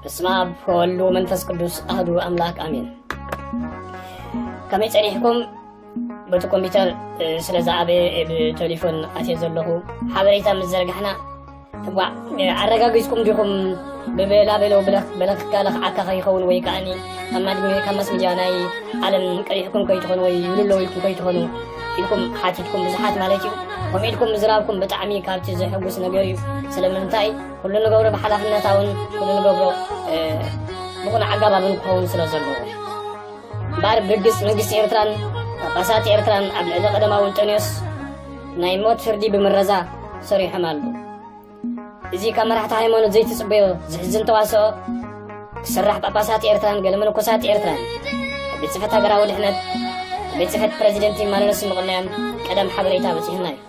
በስመ ኣብ ወወልድ ወመንፈስ ቅዱስ ኣህዱ ኣምላክ ኣሜን ከመይ ፀኒሕኩም በቲ ኮምፒተር ስለ ዝዓበየ ብቴሌፎን ኣትየ ዘለኹ ሓበሬታ ምስ ዘርጋሕና ዋእ ኣረጋጊጽኩም ዲኹም ብበላበሎ በለክካ ለኽዓካ ከይኸውን ወይ ከዓኒ ካብ ማስ ሚድያ ናይ ዓለም ቀሪሕኩም ከይትኾኑ ወይ ይብልሎ ኢልኩም ከይትኾኑ ኢልኩም ሓቲትኩም ብዙሓት ማለት እዩ ከምኡ ኢልኩም ምዝራብኩም ብጣዕሚ ካብቲ ዘሕጉስ ነገር እዩ ስለምንታይ ኩሉ ንገብሮ ብሓላፍነታውን ኩሉ ንገብሮ ብቑን ኣጋባብን ክኸውን ስለ ዘለዎ እምበኣር ብርግጽ መንግስቲ ኤርትራን ጳጳሳት ኤርትራን ኣብ ልዕሊ ቀደማዊ እንጠንዮስ ናይ ሞት ፍርዲ ብምረዛ ሰሪሖም ኣሉ እዚ ካብ መራሕቲ ሃይማኖት ዘይትጽበዮ ዝሕዝን ተዋስኦ ክስራሕ ጳጳሳት ኤርትራን ገለ መነኮሳት ኤርትራን ኣብ ቤት ጽሕፈት ሃገራዊ ድሕነት ኣብ ቤት ጽሕፈት ፕረዚደንት ይመላለሱ ምቕናዮም ቀደም ሓበሬታ በጺሑና እዩ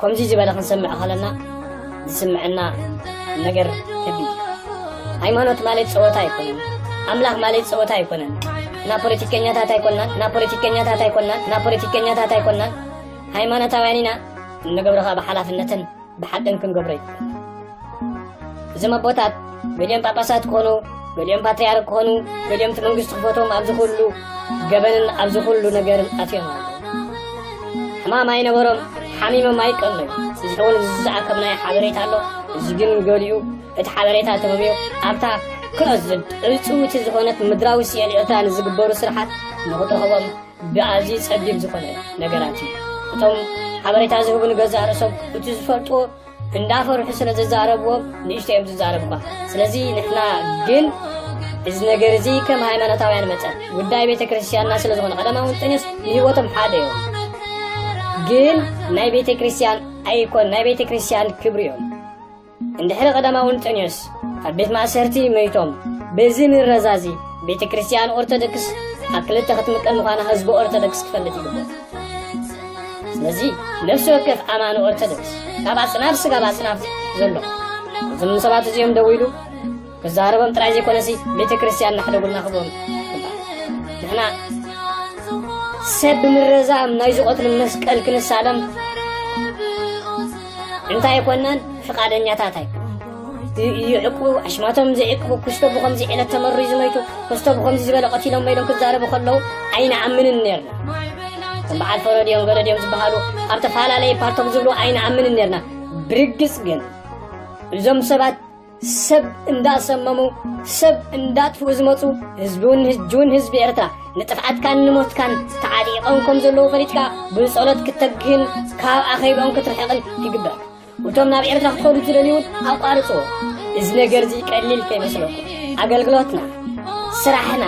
ከምዚ ዝበለ ክንሰምዕ ከለና ዝስምዐና ነገር ከቢድ እዩ። ሃይማኖት ማለት ፀወታ ኣይኮነን። ኣምላኽ ማለት ፀወታ ኣይኮነን። እና ፖለቲከኛታት ኣይኮናን እና ፖለቲከኛታት ኣይኮናን እና ፖለቲከኛታት ኣይኮናን ሃይማኖታውያን ኢና እንገብሮ ከዓ ብሓላፍነትን ብሓቅን ክንገብሮ እዩ እዞም ኣቦታት ገሊኦም ጳጳሳት ክኾኑ ገሊኦም ፓትርያርክ ክኾኑ ገሊኦም እቲ መንግስቲ ክፈቶም ኣብዚ ኩሉ ገበንን ኣብዚ ኩሉ ነገርን ኣትዮም ኣሎ ሕማም ኣይነበሮም ሓሚሞም ኣይቀነዩ እዚ እውን እዚ ዝኣከብናዮ ሓበሬታ ኣሎ እዚ ግን ገሊኡ እቲ ሓበሬታ ተመምዮ ኣብታ ክነዝድ ዕፅውቲ ዝኾነት ምድራዊ ስዕል ኤርትራ ንዝግበሩ ስርሓት ንኽትረኽቦም ብኣዝዩ ፀቢብ ዝኾነ ነገራት እዩ እቶም ሓበሬታ ዝህቡ ንገዛእ ርእሶም እቲ ዝፈልጥዎ እንዳፈርሑ ስለ ዝዛረብዎም ንእሽቶ እዮም ዝዛረብ እኳ ስለዚ ንሕና ግን እዚ ነገር እዚ ከም ሃይማኖታውያን መጠን ጉዳይ ቤተ ክርስትያንና ስለ ዝኾነ ቀዳማዊ እንጠንዮስ ንህይወቶም ሓደ እዮም ግን ናይ ቤተ ክርስትያን ኣይኮን ናይ ቤተ ክርስትያን ክብሪ እዮም እንድሕሪ ቀዳማዊ እንጠንዮስ ኣብ ቤት ማእሰርቲ መይቶም በዚ ምረዛዚ ቤተ ክርስትያን ኦርቶዶክስ ኣብ ክልተ ክትምቀል ምዃና ህዝቢ ኦርቶዶክስ ክፈልጥ ይግብኦ ስለዚ ነፍሲ ወከፍ ኣማኒ ኦርቶዶክስ ካብ ኣጽናፍ ስጋብ ኣጽናፍ ዘሎ እዞም ሰባት እዚኦም ደው ኢሉ ክዛረቦም ጥራይ ዘይኮነሲ ቤተ ክርስቲያን ናሕደጉልና ክብኦም ንሕና ሰብ ብምረዛም ናይ ዝቐትሉ መስቀል ክንሳለም እንታይ ኣይኮናን ፍቃደኛታት ኣይ ይዕቁቡ ኣሽማቶም ዘይዕቅቡ ክስቶ ብከምዚ ዕለት ተመርዩ ዝመይቱ ክስቶ ብከምዚ ዝበለ ቀቲሎም ኢሎም ክዛረቡ ከለዉ ኣይንኣምንን ነርና ከም በዓል ፈረድዮም ገረድዮም ዝበሃሉ ኣብ ተፈላለየ ፓርቶም ዝብሉ ኣይንኣምንን ነርና ብርግፅ ግን እዞም ሰባት ሰብ እንዳሰመሙ ሰብ እንዳጥፍኡ ዝመፁ ህዝብውን ህጅውን ህዝቢ ኤርትራ ንጥፍዓትካን ንሞትካን ተዓጢቖም ከም ዘለዉ ፈሊጥካ ብጸሎት ክተግህን ካብ ኣኼብኦም ክትርሕቕን ይግበኣካ እቶም ናብ ኤርትራ ክኸዱ ዝደልዩ እውን ኣቋርፅዎ እዚ ነገር እዚ ቀሊል ከይመስለኩም ኣገልግሎትና ስራሕና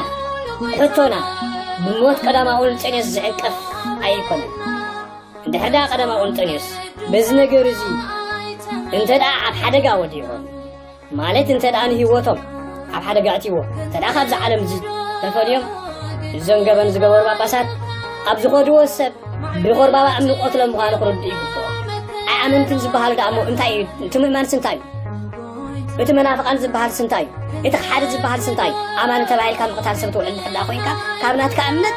ሕቶና ብሞት ቀዳማውን ጸኔት ዝዕንቀፍ ኣይኮነን እንድሕር ደኣ ቀዳማዊ እንጦንዮስ በዚ ነገር እዚ እንተ ደኣ ኣብ ሓደጋ ወዲቖም ማለት እንተ ደኣ ንህይወቶም ኣብ ሓደጋ ኣእትይዎ እንተ ደኣ ካብዚ ዓለም እዚ ተፈልዮም እዞም ገበን ዝገበሩ ጳጳሳት ኣብ ዝኸድዎ ሰብ ብቆርባባ እምኒ ቆትሎም ምዃኑ ክርድኡ ይግብኦ ኣይኣመንትን ዝበሃሉ ደኣ እሞ እንታይ እዩ እቲ ምእማንስ እንታይ እዩ እቲ መናፍቓን ዝበሃል ስንታይ እዩ እቲ ክሓዲ ዝበሃል ስንታይ እዩ ኣማኒ ተባሂልካ ምቕታል ሰብ ትውዕል ድሕር ደኣ ኮይንካ ካብ ናትካ እምነት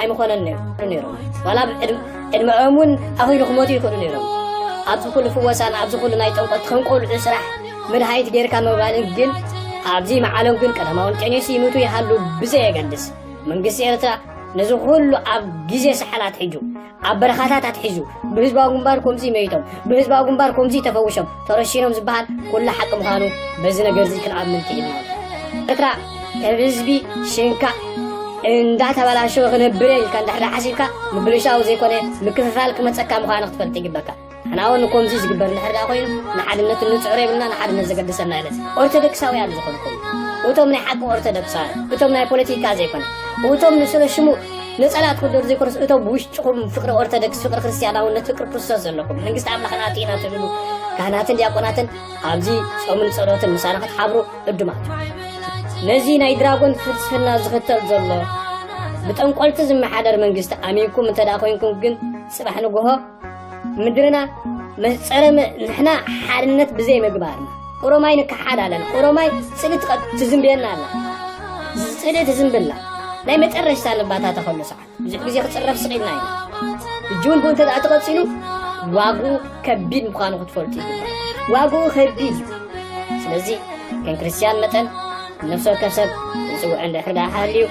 ኣይምኾነን ነይሩ ዋላ ዕድመኦም እውን ኣኺሉ ክመቱ ይኽእሉ ነይሮም ኣብዚ ኩሉ ፍወሳን ኣብዚ ኩሉ ናይ ጠንቆት ከም ቆልዑ ስራሕ ምድሃይት ጌርካ ምባልን ግን ኣብዚ መዓሎም ግን ቀዳማውን ቄኔስ ይምቱ ይሃሉ ብዘየገድስ መንግስቲ ኤርትራ ነዚ ኩሉ ኣብ ግዜ ሰሓል ኣትሒጁ ኣብ በረኻታት ኣትሒዙ ብህዝባዊ ግንባር ከምዚ መይቶም ብህዝባዊ ግንባር ከምዚ ተፈውሾም ተረሺኖም ዝበሃል ኩሉ ሓቂ ምዃኑ በዚ ነገርዚ ክንኣምን ክኢልና ኤርትራ ካብ ህዝቢ ሽንካእ እንዳተበላሸወ ክነብር እየ ኢልካ እንድሕር ሓሲብካ ምብልሻው ዘይኮነ ምክፍፋል ክመፀካ ምዃኑ ክትፈልጥ ይግበካ ሕና እውን ከምዚ ዝግበር እንድሕር ዳ ኮይኑ ንሓድነት እንፅዕሮ የብልና ንሓድነት ዘገድሰና የለን ኦርቶዶክሳውያን ዝኾንኩም እቶም ናይ ሓቂ ኦርቶዶክሳውያን እቶም ናይ ፖለቲካ ዘይኮነ እቶም ንስለ ሽሙ ነጸላ ክኽደኑ ዘይኮነስ እቶም ብውሽጥኹም ፍቕሪ ኦርቶዶክስ፣ ፍቕሪ ክርስትያናውነት፣ ፍቕሪ ክርስቶስ ዘለኩም መንግስቲ ኣምላኽ ናተይ ኢና ትብሉ ካህናትን ዲያቆናትን ኣብዚ ጾምን ጸሎትን ምሳና ክትሓብሩ ዕዱማት ነዚ ናይ ድራጎን ፍልስፍና ዝኽተል ዘሎ ብጠንቆልቲ ዝመሓደር መንግስቲ ኣሚንኩም እንተ ኮይንኩም ግን ጽባሕ ንግሆ ምድርና መህፀረ ንሕና ሓድነት ብዘይ ምግባርና ኦሮማይ ንከሓድ ኣለና ኦሮማይ ፅሊ ትዝንብየና ኣላ ፅሊ ትዝንብላ ናይ መጨረሽታ ንባታ ተኸሉ ሰዓት ብዙሕ ግዜ ክፅረፍ ስቂልና ኢና እጂ እውን ብኡ እንተ ተቐፂሉ ዋግኡ ከቢድ ምዃኑ ክትፈልጡ ይግባእ ዋግኡ ከቢድ እዩ ስለዚ ከም ክርስትያን መጠን ነፍሲ ወከፍ ሰብ ንፅውዕ እንድሕር ደኣ ሃልዩ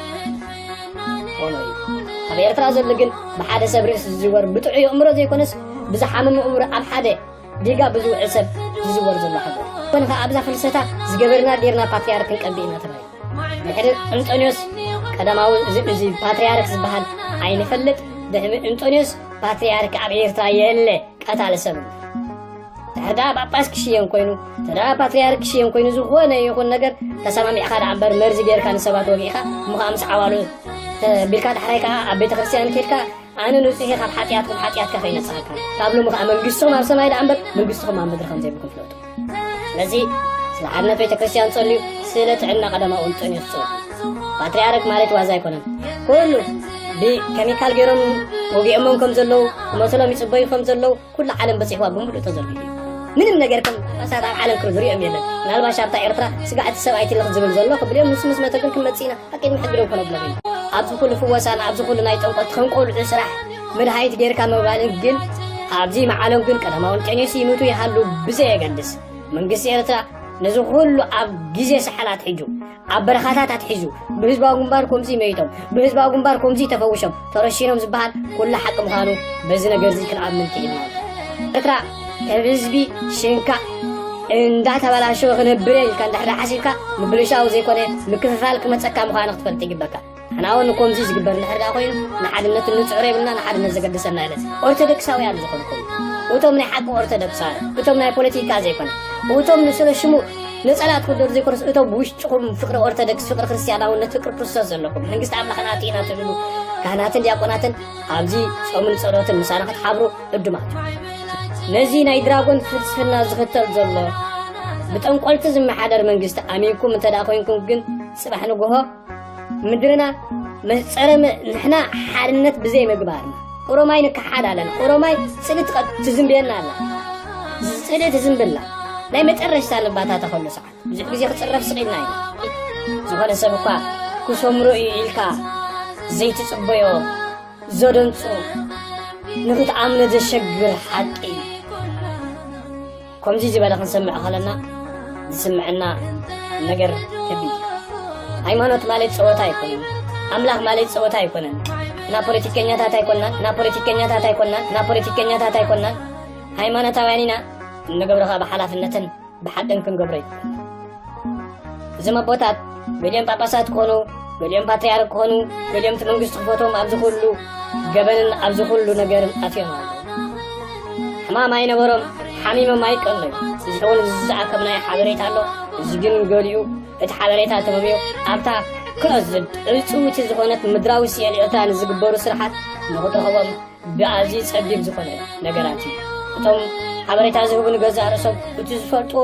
ኾኖ እዩ ኣብ ኤርትራ ዘሎ ግን ብሓደ ሰብ ርእሲ ዝዝወር ብጥዑይ ኣእምሮ ዘይኮነስ ብዝሓመመ እምሮ ኣብ ሓደ ዲጋ ብዝውዕል ሰብ ዝዝወር ዘሎ ሓገር ኮነ ከዓ ኣብዛ ፍልሰታ ዝገበርና ጌርና ፓትርያርክ ክንቀብእ ኢና ተባሂሉ ድሕሪ እንጦንዮስ ቀዳማዊ እዚ ፓትርያርክ ዝበሃል ኣይንፈልጥ ድሕሪ እንጦንዮስ ፓትርያርክ ኣብ ኤርትራ የለ ቀታሊ ሰብ ተዳ ጳጳስ ክሽየም ኮይኑ ተዳ ፓትርያርክ ክሽየም ኮይኑ ዝኾነ ይኹን ነገር ተሰማሚዕካ ደኣ እምበር መርዚ ጌርካ ንሰባት ወጊእካ እሞ ከዓ ምስ ዓዋሉ ቢልካ ዳሕራይ ከዓ ኣብ ቤተ ክርስትያን ኬድካ ኣነ ንጹሕ ካብ ሓጢኣትኩም ሓጢኣትካ ከይነስሓካ ካብ ሎሚ ከዓ መንግስቶም ኣብ ሰማይ ደኣ እምበር መንግስትኹም ኣብ ምድሪ ከም ዘይብልኩም ፍለጡ ስለዚ ስለ ሓድነት ቤተ ክርስትያን ጸልዩ ስለ ጥዕና ቀዳማውን ጥዕንኡ ትጽሉ ፓትርያርክ ማለት ዋዛ ኣይኮነን ኩሉ ብኬሚካል ገይሮም ወጊኦሞም ከም ዘለዉ ክመትሎም ይጽበዩ ከም ዘለዉ ኩላ ዓለም በጺሕዋ ብምሉእ ተዘርጊሑ እዩ ምንም ነገር ከም ጳጳሳት ኣብ ዓለም ክም ዝሪኦም የለን ምናልባሽ ኣብታ ኤርትራ ስጋዕ እቲ ሰብኣይ ትልኽ ዝብል ዘሎ ክብልዮም ንሱ ምስ መተ ግን ክንመጽእ ኢና ኣቂድ ምሕግደው ከነብሎም ኢና ኣብዚ ኩሉ ፍወሳን ኣብዚ ኩሉ ናይ ጠንቆት ከም ቆልዑ ስራሕ መድሃኒት ጌርካ ምባልን ግን ኣብዚ መዓሎም ግን ቀዳማውን ቄኔስ ይምቱ ይሃሉ ብዘየገድስ መንግስቲ ኤርትራ ነዚ ኩሉ ኣብ ግዜ ሰሓላት ሕጁ ኣብ በረኻታት ኣትሒዙ ብህዝባዊ ግንባር ኮምዚ መይቶም ብህዝባዊ ግንባር ኮምዚ ተፈውሾም ተረሺኖም ዝበሃል ኩሉ ሓቂ ምዃኑ በዚ ነገር እዚ ክንኣምን ክኢልና ኤርትራ ከም ህዝቢ ሽንካ እንዳተበላሸወ ክነብረ ኢልካ እንድሕር ሓሲብካ ምብልሻው ዘይኮነ ምክፍፋል ክመፀካ ምዃኑ ክትፈልጥ ይግበካ ሕና እውን ከምዚ ዝግበር እንድሕር ደኣ ኮይኑ ንሓድነት እንፅዕሮ የብልና ንሓድነት ዘገድሰና የለን ኦርቶዶክሳውያን ዝኾንኩም እቶም ናይ ሓቂ ኦርቶዶክሳውያን እቶም ናይ ፖለቲካ ዘይኮነ እቶም ንስለ ሽሙ ነፀላ ትክደሩ ዘይኮነስ እቶም ብውሽጥኹም ፍቅሪ ኦርቶዶክስ ፍቅሪ ክርስትያናውነት ፍቅሪ ክርስቶስ ዘለኩም መንግስቲ ኣምላኽና ኣቲና ትብሉ ካህናትን ዲያቆናትን ኣብዚ ፆምን ፀሎትን ምሳና ክትሓብሩ እድማት ነዚ ናይ ድራጎን ፍልስፍና ዝኽተል ዘሎ ብጠንቆልቲ ዝመሓደር መንግስቲ ኣሚንኩም እንተ ኮይንኩም ግን ፅባሕ ንግሆ ምድርና መህፀረመ ንሕና ሓድነት ብዘይ ምግባርና ኦሮማይ ንከሓድ ኣለን ኦሮማይ ፅሊ ትዝንብየና ኣላ ፅሊ ትዝንብላ ናይ መጨረሽታ ንባታ ተኸሉ ሰዓት ብዙሕ ግዜ ክፅረፍ ስቂልና ኢና ዝኾነ ሰብ እኳ ክሰምሮ እዩ ኢልካ ዘይትፅበዮ ዘደንፁ ንክትኣምነ ዘሸግር ሓቂ እዩ ከምዚ ዝበለ ክንሰምዕ ከለና ዝስምዐና ነገር ከቢድ እዩ። ሃይማኖት ማለት ፀወታ ኣይኮነን። ኣምላኽ ማለት ፀወታ ኣይኮነን። እና ፖለቲከኛታት ኣይኮናን እና ፖለቲከኛታት ኣይኮናን እና ፖለቲከኛታት ኣይኮናን ሃይማኖታውያን ኢና እንገብሮ ከዓ ብሓላፍነትን ብሓቅን ክንገብሮ እዩ እዞም ኣቦታት ገሊኦም ጳጳሳት ክኾኑ ገሊኦም ፓትርያርክ ክኾኑ ገሊኦም እቲ መንግስቲ ክፈቶም ኣብዚ ኩሉ ገበንን ኣብዚ ኩሉ ነገርን ኣትዮም ኣለዉ ሕማም ኣይነበሮም ሓሚሞም ኣይቀለዩ እዚ እውን ዝዝኣከብናዮ ሓበሬታ ኣሎ እዚ ግን ገሊኡ እቲ ሓበሬታ ተመምዮ ኣብታ ክነዝድ ዕፅውቲ ዝኾነት ምድራዊ ስኤልዮታ ንዝግበሩ ስራሓት ንኽትረኽቦም ብኣዝዩ ፀቢብ ዝኾነ ነገራት እዩ እቶም ሓበሬታ ዝህቡ ንገዛእ ርእሶም እቲ ዝፈልጥዎ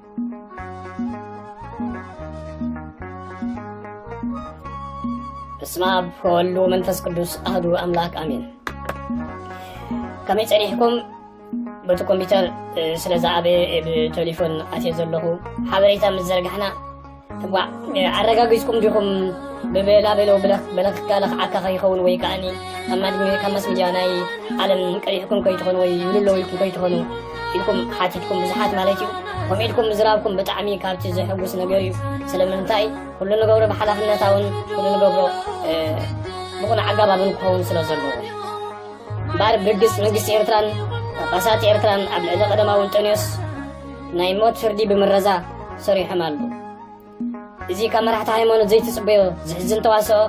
በስመ ኣብ ወወልድ ወመንፈስ ቅዱስ ኣህዱ ኣምላክ ኣሜን ከመይ ፀኒሕኩም በቲ ኮምፒተር ስለ ዝዓበየ ብቴሌፎን ኣትየ ዘለኹ ሓበሬታ ምስ ዘርጋሕና ዋእ ኣረጋጊጽኩም ዲኹም ብበላበሎ በለክካ ለኽዓካ ከይኸውን ወይ ከዓኒ ካብ ማስ ሚድያ ናይ ዓለም ቀሪሕኩም ከይትኾኑ ወይ ይብሉ ኣለዉ ኢልኩም ከይትኾኑ ኢልኩም ሓቲትኩም ብዙሓት ማለት እዩ ከምኡ ኢልኩም ምዝራብኩም ብጣዕሚ ካብቲ ዘሕጉስ ነገር እዩ ስለምንታይ ኩሉ ንገብሮ ብሓላፍነታውን ኩሉ ንገብሮ ብኹነ ኣጋባብን ክኸውን ስለ ዘለዎ እምበኣር ብርግጽ መንግስቲ ኤርትራን ጳጳሳት ኤርትራን ኣብ ልዕሊ ቀደማዊ እንጠንዮስ ናይ ሞት ፍርዲ ብምረዛ ሰሪሖም ኣሉ እዚ ካብ መራሕቲ ሃይማኖት ዘይትጽበዮ ዝሕዝን ተዋስኦ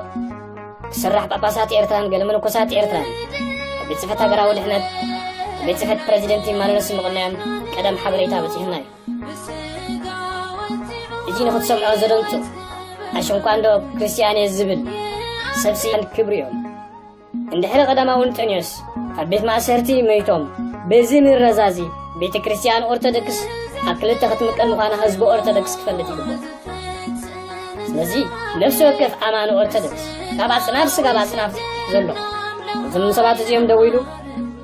ክስራሕ ጳጳሳት ኤርትራን ገለ መነኮሳት ኤርትራን ካብ ቤት ጽሕፈት ሃገራዊ ድሕነት ቤት ጽሕፈት ፕረዚደንት ይማለለስ ምቕናዮም ቀደም ሓበሬታ በጺሑና እዩ እዚ ንኽትሰምዖ ዘደንጹ ኣሸንኳ እንዶ ክርስትያን እየ ዝብል ሰብ ስያን ክብሪ እዮም እንድሕሪ ቀዳማዊ እንጠንዮስ ኣብ ቤት ማእሰርቲ መይቶም በዚ ምረዛ እዚ ቤተ ክርስቲያን ኦርቶዶክስ ኣብ ክልተ ክትምቀል ምዃና ህዝቢ ኦርቶዶክስ ክፈልጥ ይግብኦ ስለዚ ነፍሲ ወከፍ ኣማኒ ኦርቶዶክስ ካብ ኣጽናፍ ስጋብ ኣጽናፍ ዘሎ እዞም ሰባት እዚኦም ደው ኢሉ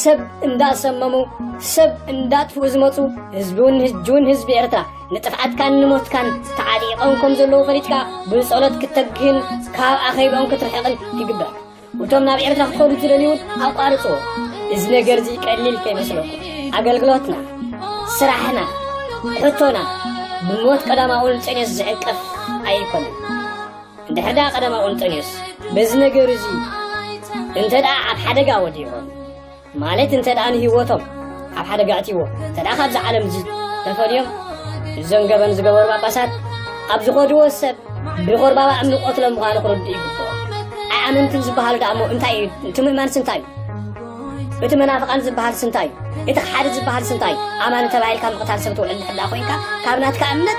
ሰብ እንዳሰመሙ ሰብ እንዳጥፍኡ ዝመፁ ህዝቢውን ህጅውን ህዝቢ ኤርትራ ንጥፍዓትካን ንሞትካን ተዓጢቖም ከም ዘለዉ ፈሊጥካ ብጸሎት ክተግህን ካብ ኣኼብኦም ክትርሕቕን ይግበር እቶም ናብ ኤርትራ ክኸዱ ዝደልዩውን ኣቋርፅዎ እዚ ነገር እዚ ቀሊል ከይመስለኩም ኣገልግሎትና ስራሕና ሕቶና ብሞት ቀዳማውን ጸኔት ዝዕቀፍ ኣይኮነን ድሕዳ ቀዳማዊ እንጦንዮስ በዚ ነገር እዚ እንተ ደኣ ኣብ ሓደጋ ወዲቖም ማለት እንተ ደኣ ንህይወቶም ኣብ ሓደጋ ኣዕትዎ እንተ ደኣ ካብዚ ዓለም እዚ ተፈልዮም እዞም ገበን ዝገበሩ ጳጳሳት ኣብ ዝኸድዎ ሰብ ብቆርባባ እምኒ ቆትሎም ምዃኑ ክርድኡ ይግብኦ ኣይኣመንትን ዝበሃሉ ደኣ እሞ እንታይ እዩ እቲ ምእማንስ እንታይ እዩ እቲ መናፍቓን ዝበሃል ስንታይ እዩ እቲ ክሓዲ ዝበሃል ስንታይ እዩ ኣማኒ ተባሂልካ ምቕታል ሰብ ትውዕል ድሕዳ ኮንካ ካብ ናትካ እምነት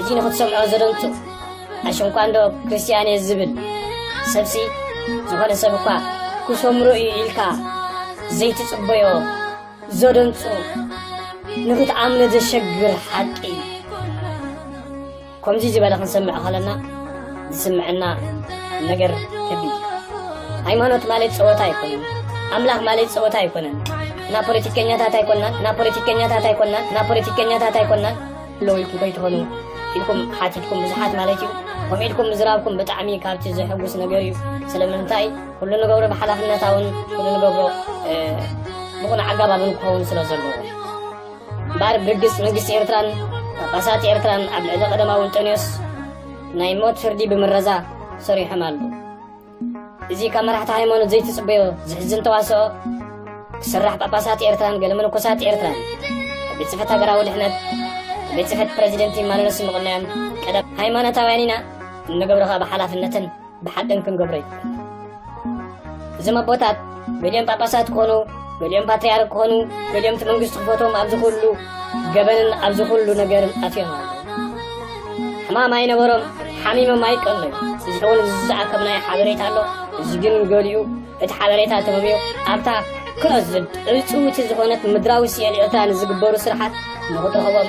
እዚ ንክትሰምዖ ዘደንጹ ኣሽንኳ እንዶ ክርስትያን እየ ዝብል ሰብሲ ዝኾነ ሰብ እኳ ክሰምሮ እዩ ኢልካ ዘይትጽበዮ ዘደንጹ ንክትኣምነ ዘሸግር ሓቂ እዩ ከምዚ ዝበለ ክንሰምዕ ከለና ዝስምዐና ነገር ከቢድ እዩ። ሃይማኖት ማለት ፀወታ ኣይኮነን። ኣምላኽ ማለት ፀወታ ኣይኮነን። እና ፖለቲከኛታት ኣይኮናን እና ፖለቲከኛታት ኣይኮናን እና ፖለቲከኛታት ኣይኮናን ኣለዉ ኢልኩም ከይትኾኑ ኢልኩም ሓቲትኩም ብዙሓት ማለት እዩ ከምኡ ኢልኩም ምዝራብኩም ብጣዕሚ ካብቲ ዘሕጉስ ነገር እዩ ስለምንታይ ኩሉ ንገብሮ ብሓላፍነታውን ኩሉ ንገብሮ ብቑን ኣገባብን ክኸውን ስለ ዘለዎ እምበኣር ብርግጽ መንግስቲ ኤርትራን ጳጳሳት ኤርትራን ኣብ ልዕሊ ቀደማዊ እንጠንዮስ ናይ ሞት ፍርዲ ብምረዛ ሰሪሖም ኣሉ እዚ ካብ መራሕቲ ሃይማኖት ዘይትጽበዮ ዝሕዝን ተዋስኦ ክስራሕ ጳጳሳት ኤርትራን ገለ መነኮሳት ኤርትራን ካብ ቤት ጽሕፈት ሃገራዊ ድሕነት ካብ ቤት ጽሕፈት ፕረዚደንት ይመላለሱ ምቕናዮም ቀደም ሃይማኖታውያን ኢና እንገብሮ ካብ ሓላፍነትን ብሓደን ክንገብሮ ይግባእ እዞም ኣቦታት ገሊኦም ጳጳሳት ክኾኑ ገሊኦም ፓትርያርክ ክኾኑ ገሊኦም እቲ መንግስቲ ክፈቶም ኣብዚ ኩሉ ገበንን ኣብዚ ኩሉ ነገርን ኣትዮም ኣሎ ሕማም ኣይነበሮም ሓሚሞም ኣይቀለዩ እዚ እውን ዝዝኣከብናዮ ሓበሬታ ኣሎ እዚ ግን ገሊኡ እቲ ሓበሬታ ተመምዮ ኣብታ ክሎዝድ ዕፅውቲ ዝኾነት ምድራዊ ስኤል ኤርትራ ንዝግበሩ ስርሓት ንኽትረኽቦም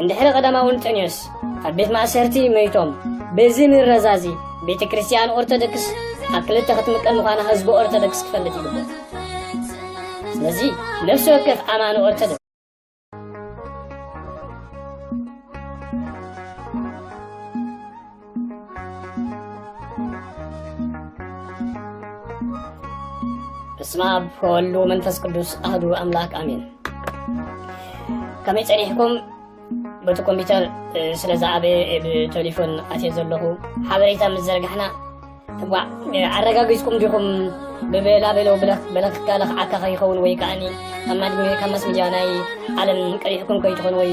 እንድሕሪ ቀዳማዊ እንጠንዮስ ኣብ ቤት ማእሰርቲ መይቶም በዚ ምረዛዚ ቤተ ክርስቲያን ኦርቶዶክስ ኣብ ክልተ ክትምቀል ምዃና ህዝቢ ኦርቶዶክስ ክፈልጥ ይግብኦ ስለዚ ነፍሲ ወከፍ ኣማኒ ኦርቶዶክስ በስመ ኣብ ወወልድ ወመንፈስ ቅዱስ ኣህዱ ኣምላክ ኣሜን ከመይ ፀኒሕኩም በቲ ኮምፒተር ስለ ዝዓበየ ብቴሌፎን ኣትየ ዘለኹ ሓበሬታ ምስ ዘርጋሕና ዋዕ ኣረጋጊፅኩም ዲኹም ብበላበሎ በለክካለ ክዓካ ከይኸውን ወይ ከዓኒ ካብ ማስ ሚድያ ናይ ዓለም ቀሪሕኩም ከይትኾኑ ወይ